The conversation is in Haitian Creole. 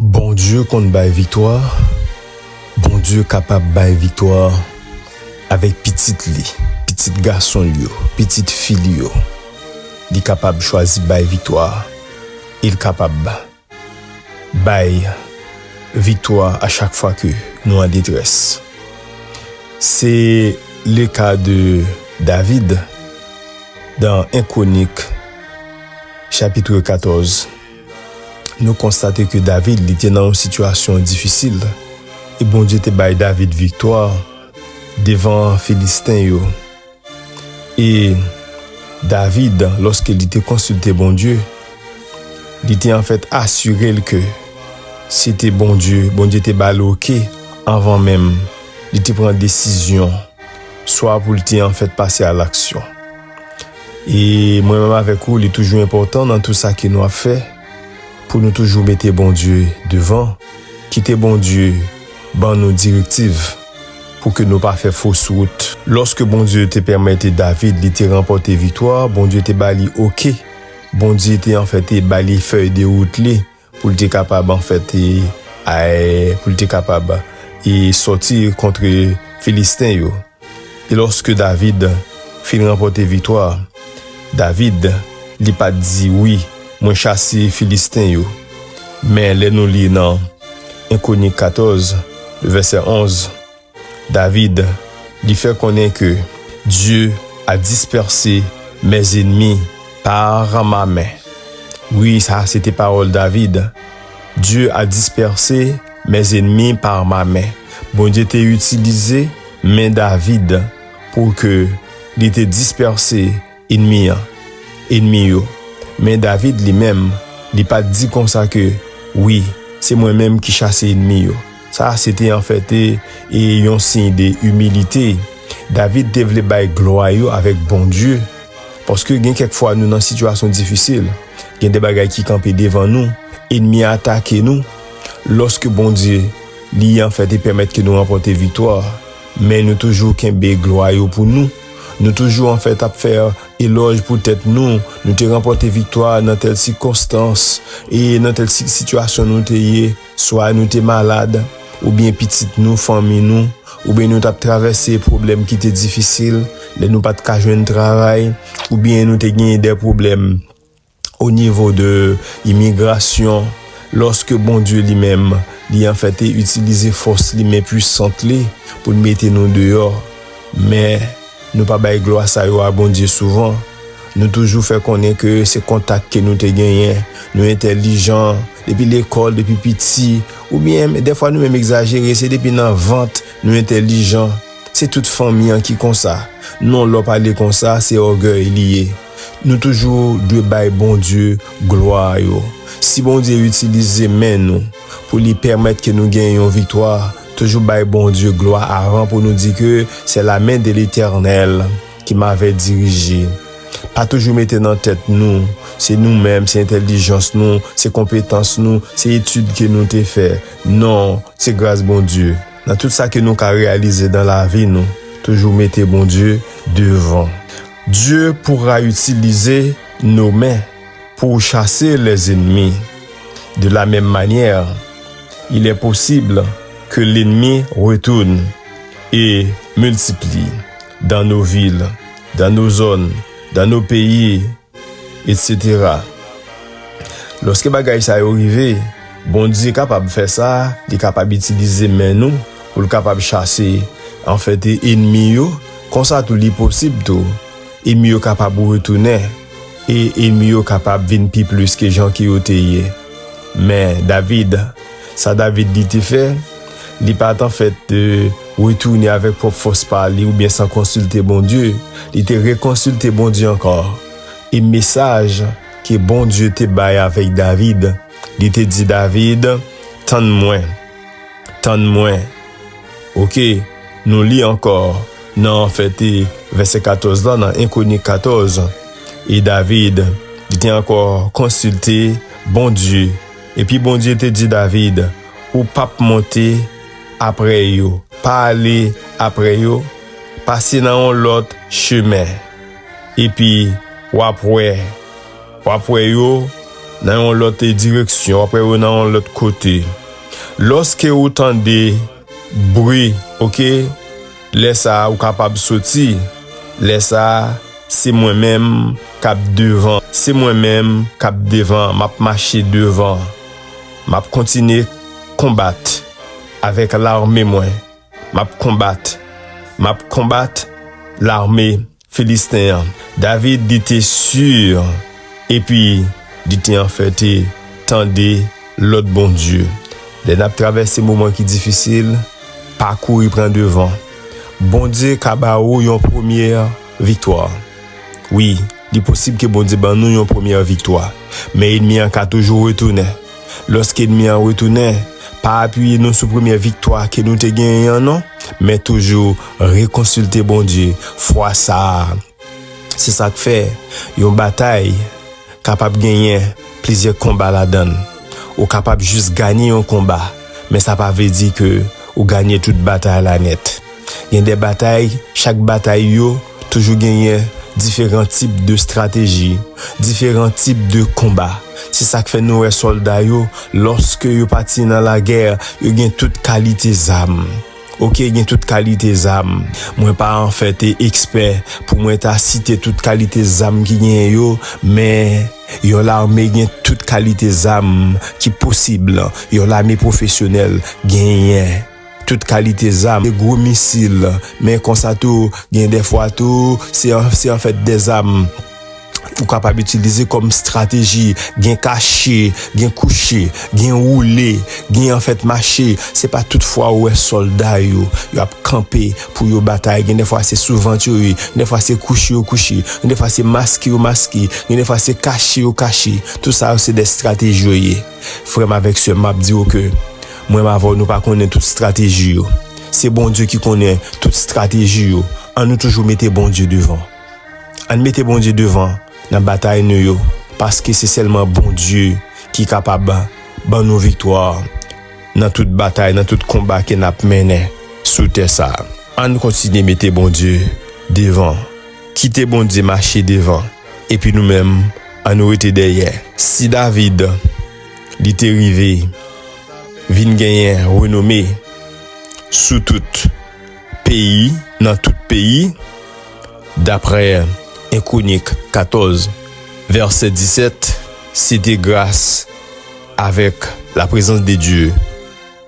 Bondye konn bay viktwa, Bondye kapab bay viktwa avèk pitit li, pitit gason l yo, pitit fi l yo. Li kapab chwazi bay viktwa e l kapab bay viktwa a chak fwa ke nou an detrès. Se le ka de David dan 1 Kwonik chapitre 14. Nou konstate ke David li te nan yon sitiyasyon difisil, e Bondye te bay David viktwa devan Filisten yo. E David, lòske li te konsilte Bondye, li te anfèt asire l ke se te Bondye, Bondye te ba l oke anvan menm li te pran desizyon swa pou l te anfèt pase alaksyon. E mwen menm avèk ou li toujou enpòtan nan tou sa ke nou ap fè pou nou toujou mete Bondye devan, kite Bondye ban nou direktiv pou ke nou pa fè fos wout. Lòske Bondye te pèmète David li te ranpòte viktwa, Bondye te ba li oke, Bondye te anfen te ba li fèy de wout li, Pou l te kapab anfèt e pou l te kapab e sòti kontre Filisten yo. E lòske David fin ranpòte viktwa, David, li pa t di, Wi, mwen chase Filisten yo. Men lè nou li nan 1 Kwonik 14, vèsè 11. David, li fè konnen ke Dye a dispèse mes ennemis par ma main. Wi, sa a se te pawòl David. Dye a dispèse mes ennemis par ma main. Bondye te itilize men David pou ke li te dispèse. Enmi an. Enmi yo. Men David li menm, li pa t di konsa ke, Wi, se mwen menm ki chase enmi yo. Sa a sete anfète e yon siy de imilite. David te vle bay glwa yo avèk Bondye. Paske gen kèk fwa nou nan sitiyasyon difisil, gen de bagay ki kanpe devan nou, enmi a atake nou. Lòske Bondye li anfète pèmèt ke nou ranpòte viktwa, men nou toujou kenbe glwa yo pou nou. Nou toujou an fèt ap fè elòj pou tèt nou, nou te ranpòte viktwa nan tèl sikonstans e nan tèl sitiyasyon nou te ye, swa nou te malad, oubyen pitit nou, fanmi nou, oubyen nou t ap travèse pwoblèm ki te difisil, lè nou pa t ka jwenn travay, oubyen nou te genyen dè pwoblèm. o nivo de imigrasyon, lòske Bondye li menm, li anfèt te itilize fòs li, men pwisant li, pou l mete nou deyò. Men, nou pa bay glwa sa yo a Bondye souvan. Nou toujou fè konnen ke se kontak ke nou te genyen, nou entèlijan, depi lekòl, depi piti, oubyen, dèfwa nou menm egzajere, se depi nan vant nou entèlijan. Se tout fanmi an ki konsa. Non, lè w pale konsa, se ògèy li ye. Nou toujou dwe bay Bondye glwa yo. Si Bondye itilize men nou pou li pèmèt ke nou gen yon viktwa, toujou bay Bondye glwa avan pou nou di ke se la men de letènèl ki mave dirije. Pa toujou mete nan tèt nou se nou menm, se entèlijans nou, se konpetans nou, se etid ke nou te fè. Non, se gras Bondye. Nan tout sa ke nou ka reyalize nan lavi nou, toujou mete Bondye devan. Dye pourra itilize nou men pou ou chase lè ennemi. De la menm manyè, il è posibl ke lennemi retourn e miltipli dan nou vil, dan nou zòn, dan nou peyi, etc. Lòske bagay sa yo rive, Bondye kapab fè sa, li kapab itilize men nou, pou l kapab chase, anfète, enmi yo, konsa tou li posib tou, enmi yo kapab retounen, e enmi yo kapab vin pi plis ke jan ke yo te ye. Men, David, sa David li te fè, li pa t anfèt retounen avèk pwòp fòs pa li oubyen san konsilte Bondye, li te rekonsilte Bondye ankò, e mesaj ke Bondye te bay avèk David, li te di David, Tann mwen. Tann mwen. Ok, nou li ankò nan anfète vèsè 14 lan nan 1 Kwonik 14, E David, li te ankò konsilte Bondye, epi Bondye te di David, Ou p ap monte apre yo, pa ale apre yo, pase nan yon lòt chemen. epi w ap wè, w ap wè yo nan yon lòt direksyon, w ap wè yo nan yon lòt kote. Lòske ou tande bri, oke, lè sa a ou kapab soti, lè sa a se mwen menm k ap devan, se mwen menm k ap devan, m ap mache devan, m ap kontinye konbat avèk lame mwen. M ap konbat, m ap konbat lame Filisten an. David li te si, epi li te anfète, Tande lòd Bondye. Lè n ap travèse moman ki difisil, pa kouri pran devan. Bondye ka ba ou yon premye viktwa. Wi, Li posib ke Bondye ban nou yon premyè viktwa, men enmi an ka toujou retounen. Lòske enmi an retounen, pa apiye nou sou premyè viktwa ke nou te genyen an non, men toujou rekonsilte Bondye fwa sa a. Se sa k fè, yon batay kapab genyen plizyè konba ladan l. Ou kapab jis ganye yon konba, men sa pa vle di ke ou ganye tout batay la nèt. Gen de batay, chak batay yo. Toujou genyen diferan tip de strateji, diferan tip de konba. Se sa k fè nou wè sòlda yo, lòske yo pati nan lagè, yo gen tout kalite zam. Oke, gen tout kalite zam. Mwen pa anfè te ekspè pou mwen ta site tout kalite zam ki genyen yo, men, yon lame gen tout kalite zam ki posib, yon lame pwofesyonèl genyen. tout kalite zam, de gwo misil, men konsa tou gen de fwa tou se an fèt de zam ou kapab itilize kòm strateji, gen kache, gen kouche, gen woule, gen an fèt mache, se pa tout fwa ou wè sòlda yo, yo ap kanpe pou yo batay, gen de fwa se sou vant yo ye, gen de fwa se kouche yo kouche, gen de fwa se maske yo maske, gen de fwa se kache yo kache, tout sa yo se de strateji yo ye. Frè m avèk sè m, m ap di yo ke mwen m avè w nou pa konnen tout estrateji yo. Se Bondye ki konnen tout estrateji yo. An nou toujou mete Bondye devan. An n mete Bondye devan nan batay nou yo, paske se sèlman Bondye ki kapab ban nou viktwa nan tout batay, nan tout konba ke n ap mennen sou tè sa a. An n kontinye mete Bondye devan. Kite Bondye mache devan. epi nou menm an nou rete dèyè. Si David li te rive vin genyen renome sou tout peyi nan tout peyi daprè 1 Kwonik 14 vèsè 17 se te gras avèk laprezans de Dye.